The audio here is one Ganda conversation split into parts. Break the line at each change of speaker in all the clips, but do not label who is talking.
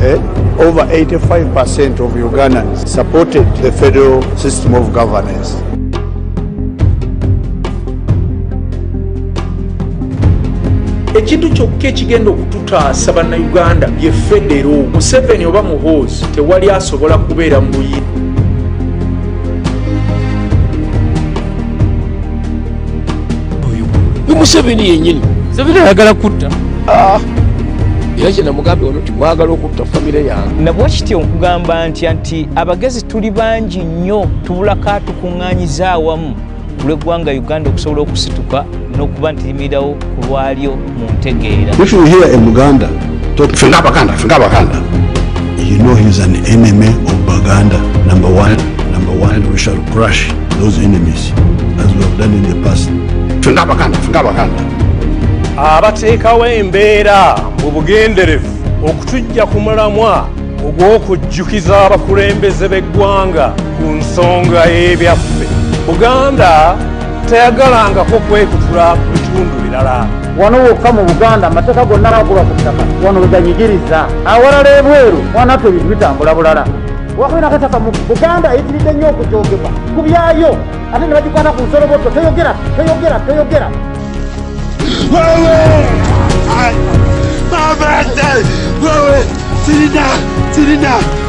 Eh? Over 85% of Ugandans supported the federal system of governance.
ekintu kyokka ekigenda okututaasa bannayuganda ye federo museveni oba muhoozi tewali asobola kubeera mu buyini
ni museveni yenyini museveni ayagala kutta ah. era kye namugambye ono timwagala okutta famire yange nabwa kityo nkugamba
nti nti abagezi tuli bangi nnyo tubulako atukuŋŋanyiza awamu kulweggwanga uganda okusobola okusituka n'okuba nti limirirawo kulwalyo mu ntegeera if you hear a
muganda talk fe ngabaganda fe ngabaganda you know he's an enemy of baganda number one number one we shall crush those enemies as we have done in the past fe ngabaganda fe ngabaganda
abateekawo embeera mu bugenderevu okutujja ku mulamwa ogw'okujjukiza abakulembeze b'eggwanga ku nsonga y'ebyaffe buganda teyagalangako kwekutula ku bitundu birala wano wokka mu
buganda amateeka gonna gakuba ku ttaka wano weganyigiriza awalala ebweru wanatwe ebintu bitambula bulala wakwena kataka mu buganda eyitiridde nnyo okujogema ku byayo ate ne bagikwata ku nsoloboto toyogera toyogera toyogera Mama,
Dad, Mama, Tina, Tina.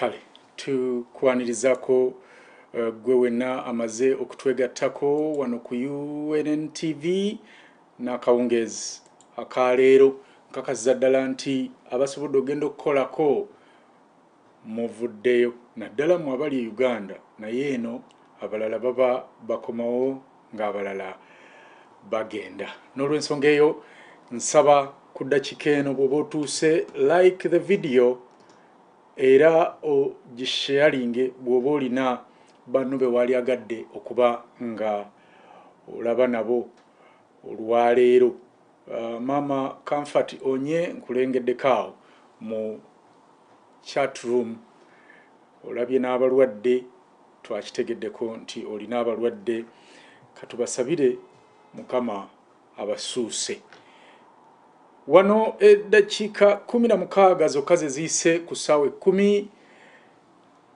kale tukwanirizako eh, gwe wenna amaze okutwegattako wano ku unn tv n'akawungeezi akaleero nkakasiza ddala nti abasobodde ogenda okukolako muvuddeyo naddala mu abali e uganda naye eno abalala baba bakomawo ng'abalala bagenda n'olwensonga eyo nsaba ku ddakika eno bw'oba otuuse like the video era ogisheyalinge bw'oba olina banno be waali agadde okuba nga olaba nabo olwaleero uh, maama comfort onye nkulengeddeko awo mu chat room olabye n'abalwadde Twakitegeddeko nti olina abalwadde katubasabire mukama abasuuse. Wano eddakiika kumi na mukaaga zokka ze ziyise ku ssaawa ekkumi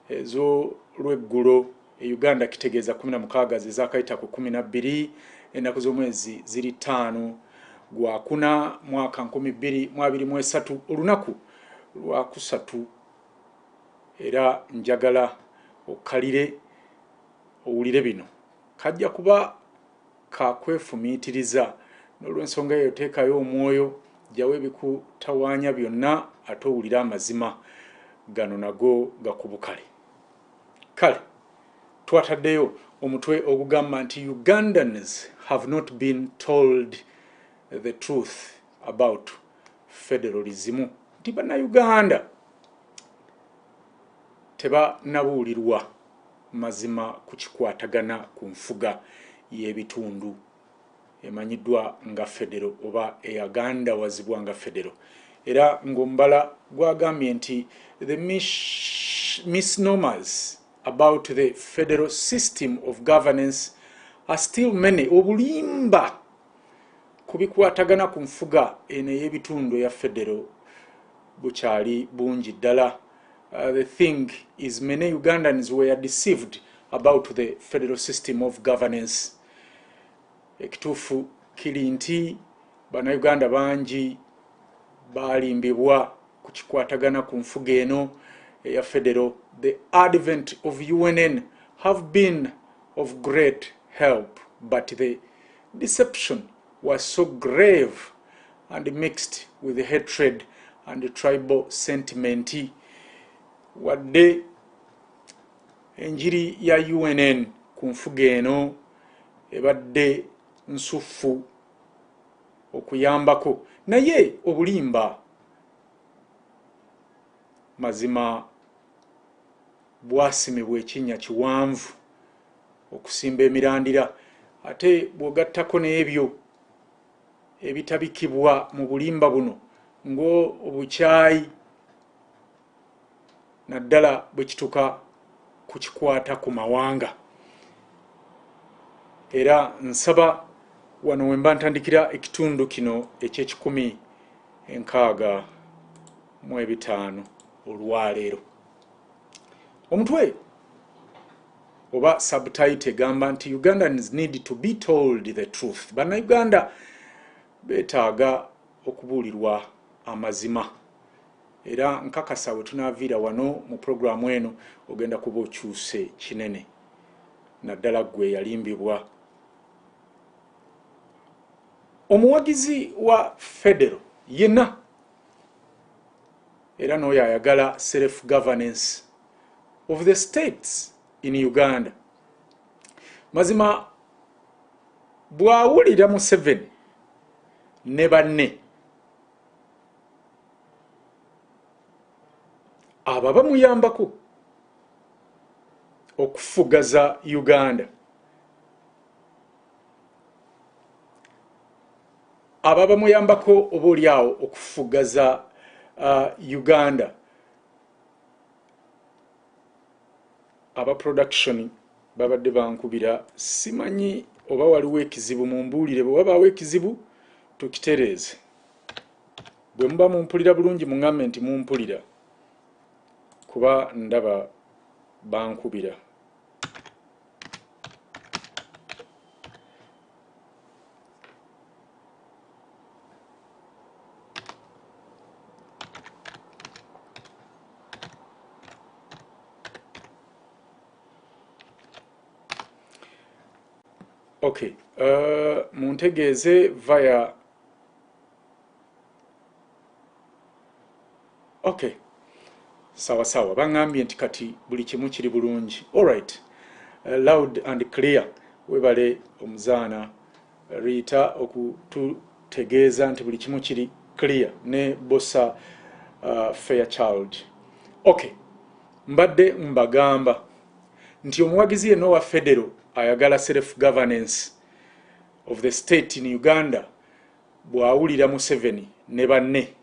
ez'olweggulo e Uganda kitegeeza kumi na mukaaga ze zaakayita ku kumi na bbiri ennaku z'omwezi ziri ttaano gwakuna mwaka nkumi bbiri mu abiri mu esatu olunaku lwakusatu. Era njagala okkalire owulire bino. Kajja kuba ka kwefumiitiriza. N'olw'ensonga eyo, teekayo omwoyo, ggyawo ebikutawaanya byonna, ate owulire amazima gano nago gakubukale. Kale, twataddeyo omutwe ogugamba nti Ugandans have not been told the truth. about federalism nti bannayuganda tebanabuulirwa mazima ku kikwatagana ku nfuga y'ebitundu emanyiddwa nga federo oba eyagandawazibwa nga federo era ng'omubala gwagambye nti the misnomers about the federal system of governance are still many obulimba ku bikwatagana ku nfuga eno ey'ebitundu eya federo bukyali bungi ddala uh, the thing is many ugandans were deceived about the federal system of governance ekituufu kiri nti bannayuganda bangi baalimbibwa ku kikwatagana ku nfuga eno eya federo the advent of unn have been of great help but the Deception was so grave and mixed with hatred and tribal sentiment wadde enjiri ya UNN ku nfuga eno ebadde nsuffu okuyambako naye obulimba mazima bwasimibwa ekinnya kiwanvu okusimba emirandira ate bw'ogattako n'ebyo ebitabikibwa mu bulimba buno ng'obukyayi naddala bwe kituka ku kikwata ku mawanga era nsaba wano wemba ntandikira ekitundu kino eky'ekikumi enkaaga mu ebitaano olwaleero omutwe oba subtite egamba nti ugandans need to be told the truth banauganda betaaga okubuulirwa amazima era nkakasa we tunaaviira wano mu pulogulaamu eno ogenda kuba okyuse kinene naddala gwe yalimbibwa omuwagizi wa federo yena Era n'oyo ayagala self governance of the states in Uganda mazima bwawulira Museveni ne banne aba bamuyambako okufugaza Uganda. abo abamuyambako oba oli awo okufugaza uh, uganda aba production babadde bankubira simanyi oba waliwo ekizibu mumbuulire bwe wabaawo ekizibu tukitereeze bwe muba mumpulira bulungi muŋambe nti mumpulira kuba ndaba bankubira okay uh, muntegeeze via okay sawa sawa bangambye nti kati buli kimu kiri bulungi alright uh, loud and clear webale omuzaana riita okututegeeza nti buli kimu kiri clear ne bosa uh, fair child okay mbadde mbagamba nti omuwagizi yenna owa federo ayagala self governance of the state in uganda bwawulira museveni ne banne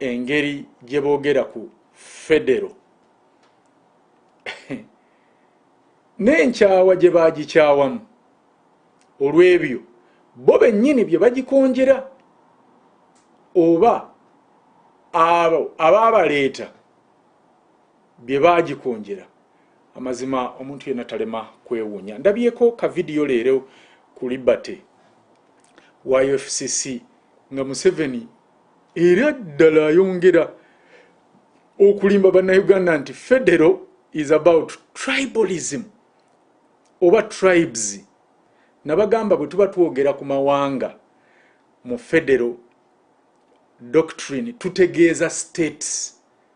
engeri gye boogera ku federo n'enkyawa gye baagikyawamu olw'ebyo bo bennyini bye bagikonjera oba abo abaabaleeta bye baagikonjera amazima omuntu yenna talema kwewuunya ndabyeko ka vidiyo leero ku liberty wa fcc nga museveni era ddala ayongera okulimba bannauganda nti federo is about tribalism oba tribes nabagamba bwe tuba twogera ku mawanga mu federo doctrine tutegeeza states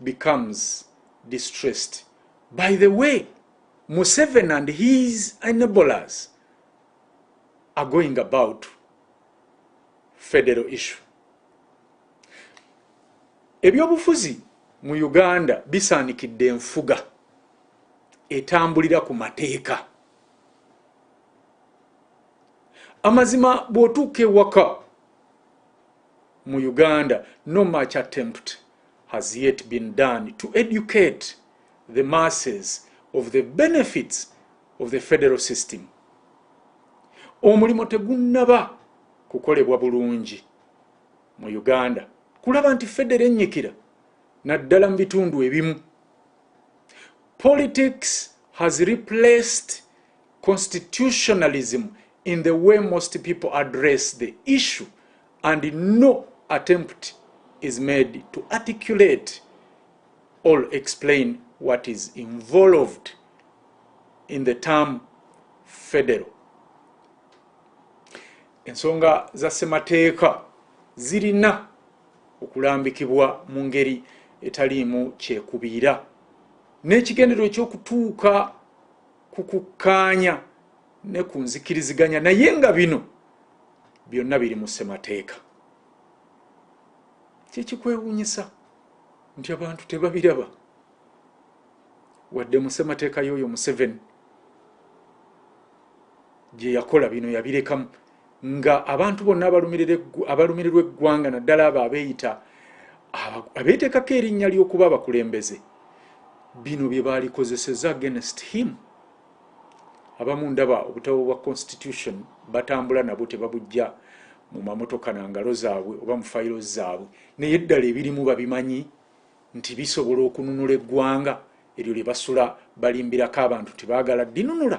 becomes distressed by the way museven and his enablers are going about federal issue ebyobufuzi mu uganda bisaanikidde enfuga etambulira ku mateeka amazima bw'otuuka ewaka mu uganda no much attempt has yet been done to educate the masses of the benefits of the federal system omulimu tegunnaba kukolebwa bulungi mu uganda kulaba nti federo ennyikira naddala mu bitundu ebimu politics has replaced constitutionalism in the way most people address the issue and no attempt is made to articulate or explain what is involved in the term federal ensonga za ssemateeka zirina okulambikibwa mu ngeri etaliimu kyekubiira n'ekigendero ekyokutuuka ku kukkaanya ne ku nzikiriziganya naye nga bino byonna biri mu ssemateeka kyekikwewunyisa nti abantu tebabiraba wadde mu ssemateeka y'oyo museveni gye yakola bino yabirekamu nga abantu bonna abalumirirwa eggwanga naddala abo abeeyita abeeteekako erinnya ly'okuba abakulembeze bino bye baalikozeseza against him abamu ndaba obutabo bwa constitution batambula nabwo tebabujja mu mamotoka na ngalo zaabwe oba mu fayiro zaabwe naye ddala ebirimu babimanyi nti bisobola okununula eggwanga eryo lye basula balimbirako abantu tebaagala dinunula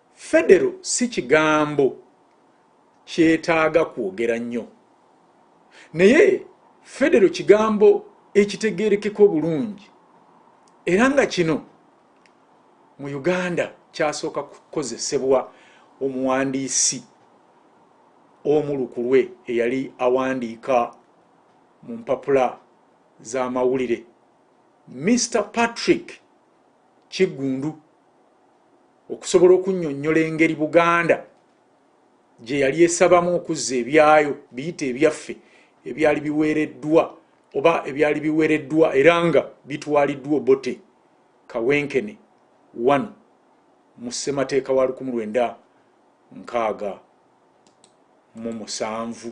Federo si kigambo kyetaaga kwogera nnyo, naye federo kigambo ekitegeerekeka obulungi era nga kino mu Uganda kyasooka kukozesebwa omuwandiisi omu lukulwe eyali awandiika mu mpapula z'amawulire Mister Patrick Kiggundu. okusobola okunnyonnyola engeri buganda gye yali esabamu okuzza ebyayo biyita ebyaffe ebyali biweereddwa oba ebyali biweereddwa era nga bitwaliddwa obote kawenkene wano mu ssemateeka wa lukumu lwenda nkaaga mu musanvu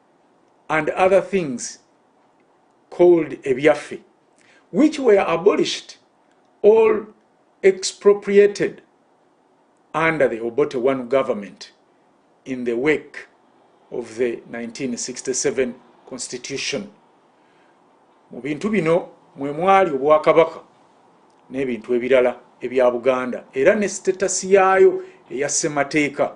and other things called ebyaffe which were abolished all expropriated under the obote one government in the wake of the 1967 constitution mu bintu bino mwe mwali obwakabaka n'ebintu ebirala ebya buganda era ne sitetasi yaayo eya ssemateeka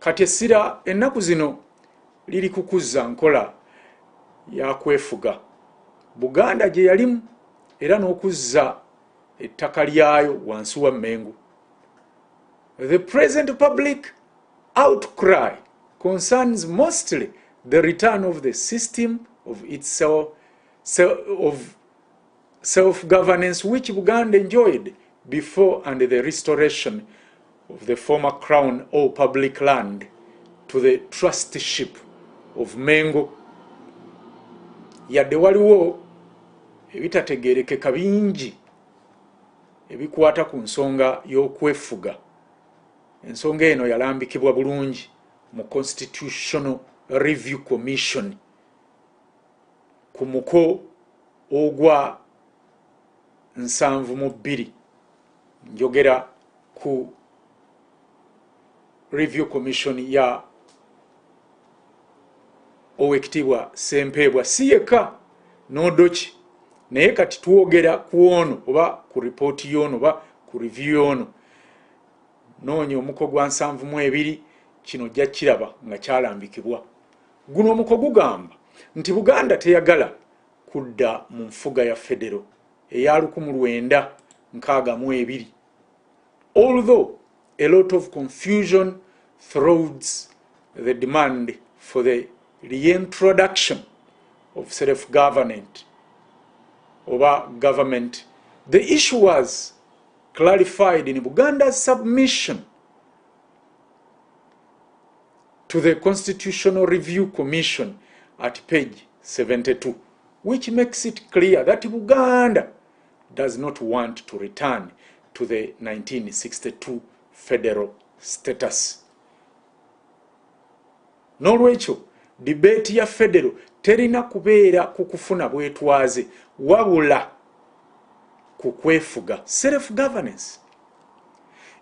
Kati essira ennaku zino liri kukuzza nkola ya kwefuga Buganda gye yalimu era n'okuzza ettaka lyayo wansi wa Mmengo. The present public outcry concerns mostly the return of the system of itself, of self governance which Buganda enjoyed before and the restoration of the former crown or public land to the trustship of Mengo. Yadde waliwo ebitategerekeka bingi ebikwata ku nsonga y'okwefuga. Ensonga eno yalambikibwa bulungi mu Constitutional Review Commission. ku muko ogwa nsanvu mu bbiri njogera ku review commission ya owekitiibwa sempeebwa si yekka n'odoki naye kati twogera ku ono oba ku ripooti y'ono oba ku review y'ono noonya omuko gwa nsanvu mu ebiri kino ojja kiraba nga kyalambikibwa Guno omuko gugamba nti Buganda teyagala kudda mu nfuga ya federo eya lukumu lwenda nkaaga mu ebiri although a lot of confusion throws the demand for the reintroduction of self government oba government the issue was clarified in Buganda's submission to the constitutional review commission at page 72 which makes it clear that buganda does not want to return to the 1962 federal status n'olwekyo dibeeti ya federo terina kubeera ku kufuna bwetwaze wabula ku kwefuga self governance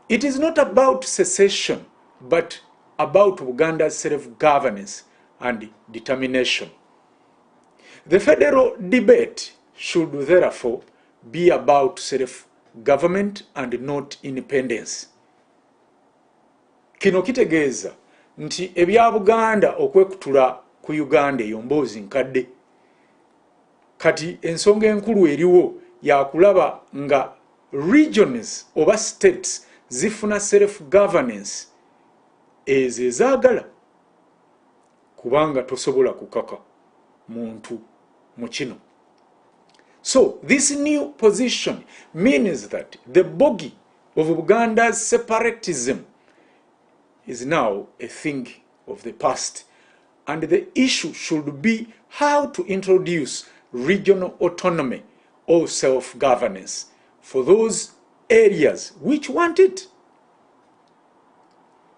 it is not about secession but about Buganda self-governance and determination. The federal debate should therefore be about self-government and not independence. Kino kitegeeza nti ebya Buganda okwekutula ku Uganda eyo mboozi nkadde. kati ensonga enkulu eriwo yakulaba nga regions oba states zifuna self governance ezo ezagala kubanga tosobola kukaka muntu mu kino so this new position means that the bogi of buganda's separatism is now a thing of the past and the issue should be how to introduce regional autonomy or self-governance for those areas which want it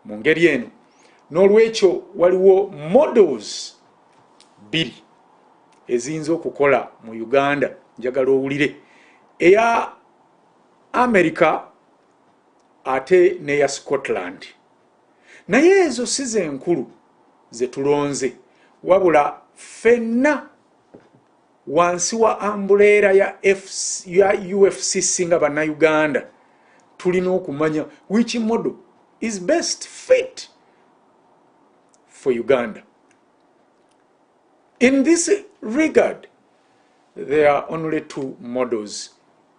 mu ngeri eno n'olwekyo waliwo models bbiri eziyinza okukola mu uganda njagala owulire eya america ate neya scotland naye ezo si zenkulu zetulonze wabula fenna wansi wa ambuleera ya, ya ufcc nga bannayuganda tulina okumanya which model is best fit for uganda in this regard there are only two models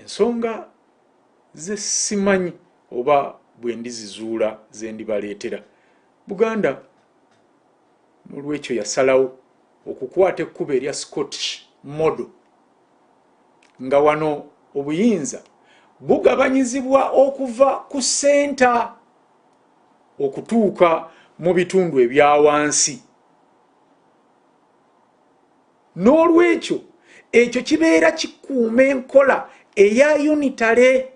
ensonga ze simanyi oba bwe ndizizuula ze ndibaleetera buganda n'olwekyo yasalawo okukwata ekkubo erya scottish model nga wano obuyinza bugabanyizibwa okuva ku senta okutuuka mu bitundu ebya wansi n'olwekyo ekyo kibeera kikuuma enkola eya unitale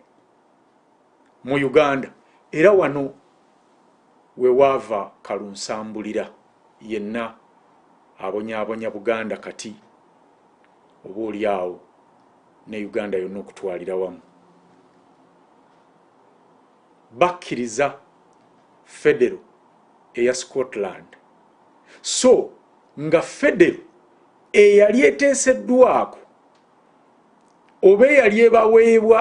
mu uganda era wano wewaava kalunsambulira yenna abonyabonya buganda kati oba oli awo ne uganda yonna okutwalira wamu bakkiriza federo eya scotland so nga federo eyali eteeseddwako oba eyali ebaweebwa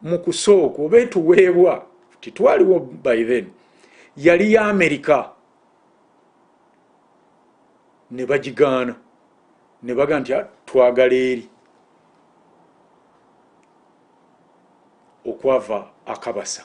mu kusooka oba etuweebwa titwaliwo by then yali ya amerika ne bagigaana ne baga nti ah, twagala eri okwava akabasa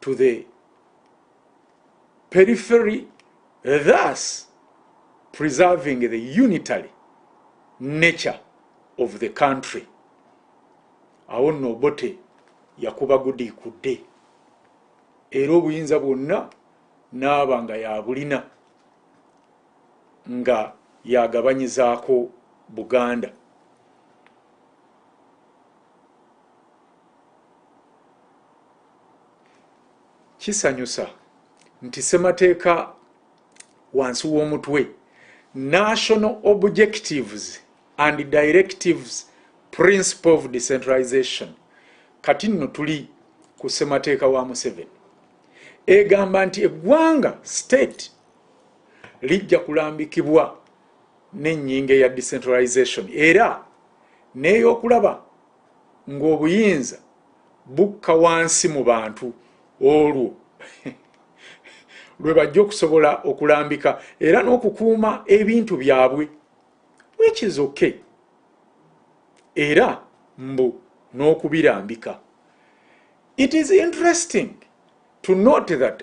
to the periphery thus preserving the unitary nature of the country awo nno obote yakuba gudi kudde era obuyinza bwonna naaba nga yabulina nga yagabanyizaako buganda kisanyusa nti ssemateeka wansi w'omutwe national objectives and directives principle of decentralization kati nno tuli ku ssemateeka wa museveni egamba nti eggwanga state lijja kulambikibwa n'ennyinga ya decentralization era n'eyokulaba ng'obuyinza bukka wansi mu bantu olwo lwe bajja okusobola okulambika era n'okukuuma ebintu byabwe wekizoke era mbu n'okubirambika it is interesting to note that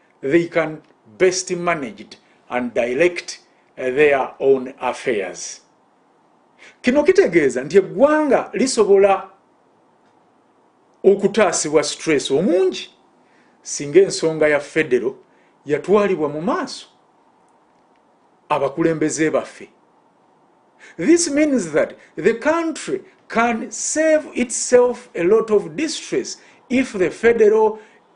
they can best managed and direct eh, their own affairs kino kitegeeza nti eggwanga lisobola okutaasibwa stress omungi singa ensonga ya federo yatwalibwa mu maaso abakulembeze baffe this means that the country can save itself a lot of distress if the federal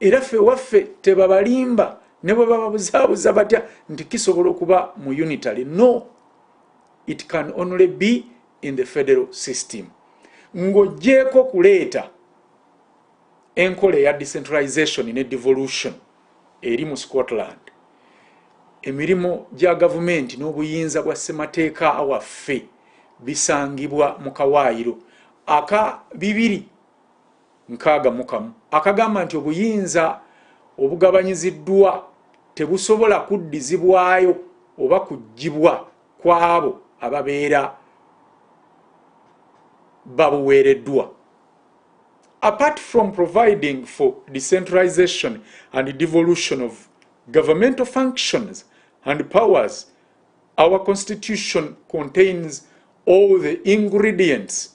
era ffe waffe tebabalimba ne bwe bababuzaabuza batya nti kisobola okuba mu unitary no it can only be in the federal system ng'ogyeko kuleeta enkola eya decentralization ne devolution eri mu scotland emirimu gya gavumenti n'obuyinza bwa ssemateeka waffe bisangibwa mu kawaayiro aka bibiri nkaaga mu kamu akagamba nti obuyinza obugabanyiziddwa tebusobola kuddizibwayo oba kuggyibwa kw'abo ababeera babuweereddwa apart from providing for decentralization and devolution of governmental functions and powers, our constitution contains all the ingredients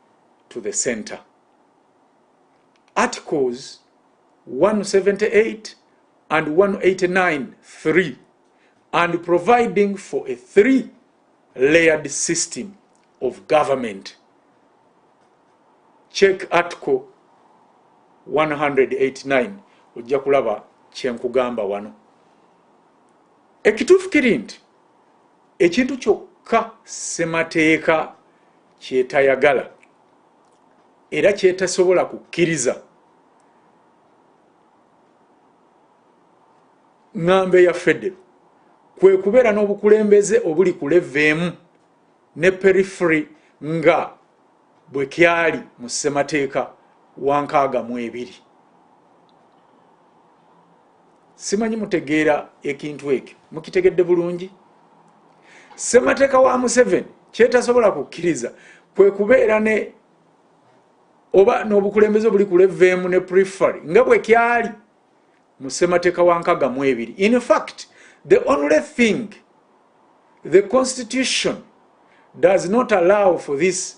to the center articles 178 and 189 3 and providing for a three layered system of government check article 189 ojja kulaba kyenkugamba wano ekituufu kiri nti ekintu kyokka ssemateeka kyetayagala era kyetasobola kukkiriza ŋŋambo eya federo kwe kubeera n'obukulembeze obuli ku leveemu ne periferi nga bwe kyali mu ssemateeka wa nkaaga mu ebiri simanyi mutegeera ekintu ekyo mukitegedde bulungi ssemateeka wa museveni kyetasobola kukkiriza kwe kubeera ne oba n'obukulembeze obuli ku leveemu ne prefary nga bwe kyali mu ssemateeka wa nkaga mu ebiri in fact the only thing the constitution does not allow for this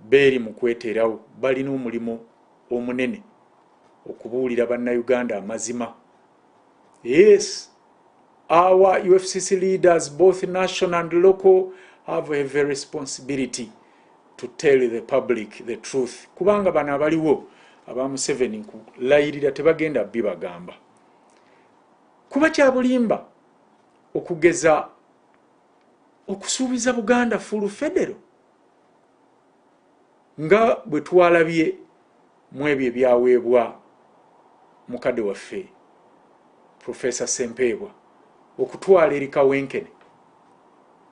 Beeri mu kweterawo, balina omulimu omunene okubuulira bannauganda amazima. Yes, our UFCC leaders, both national and local, have a heavy responsibility to tell the public the truth. Kubanga bano abaliwo aba Museveni nkulayirira tebagenda bibagamba. Kuba kyabulimba okugeza okusuubiza Buganda fulu federo nga bwe twalabye mu ebyo ebyaweebwa mukadde waffe profesa sempeebwa okutwala eri kawenkene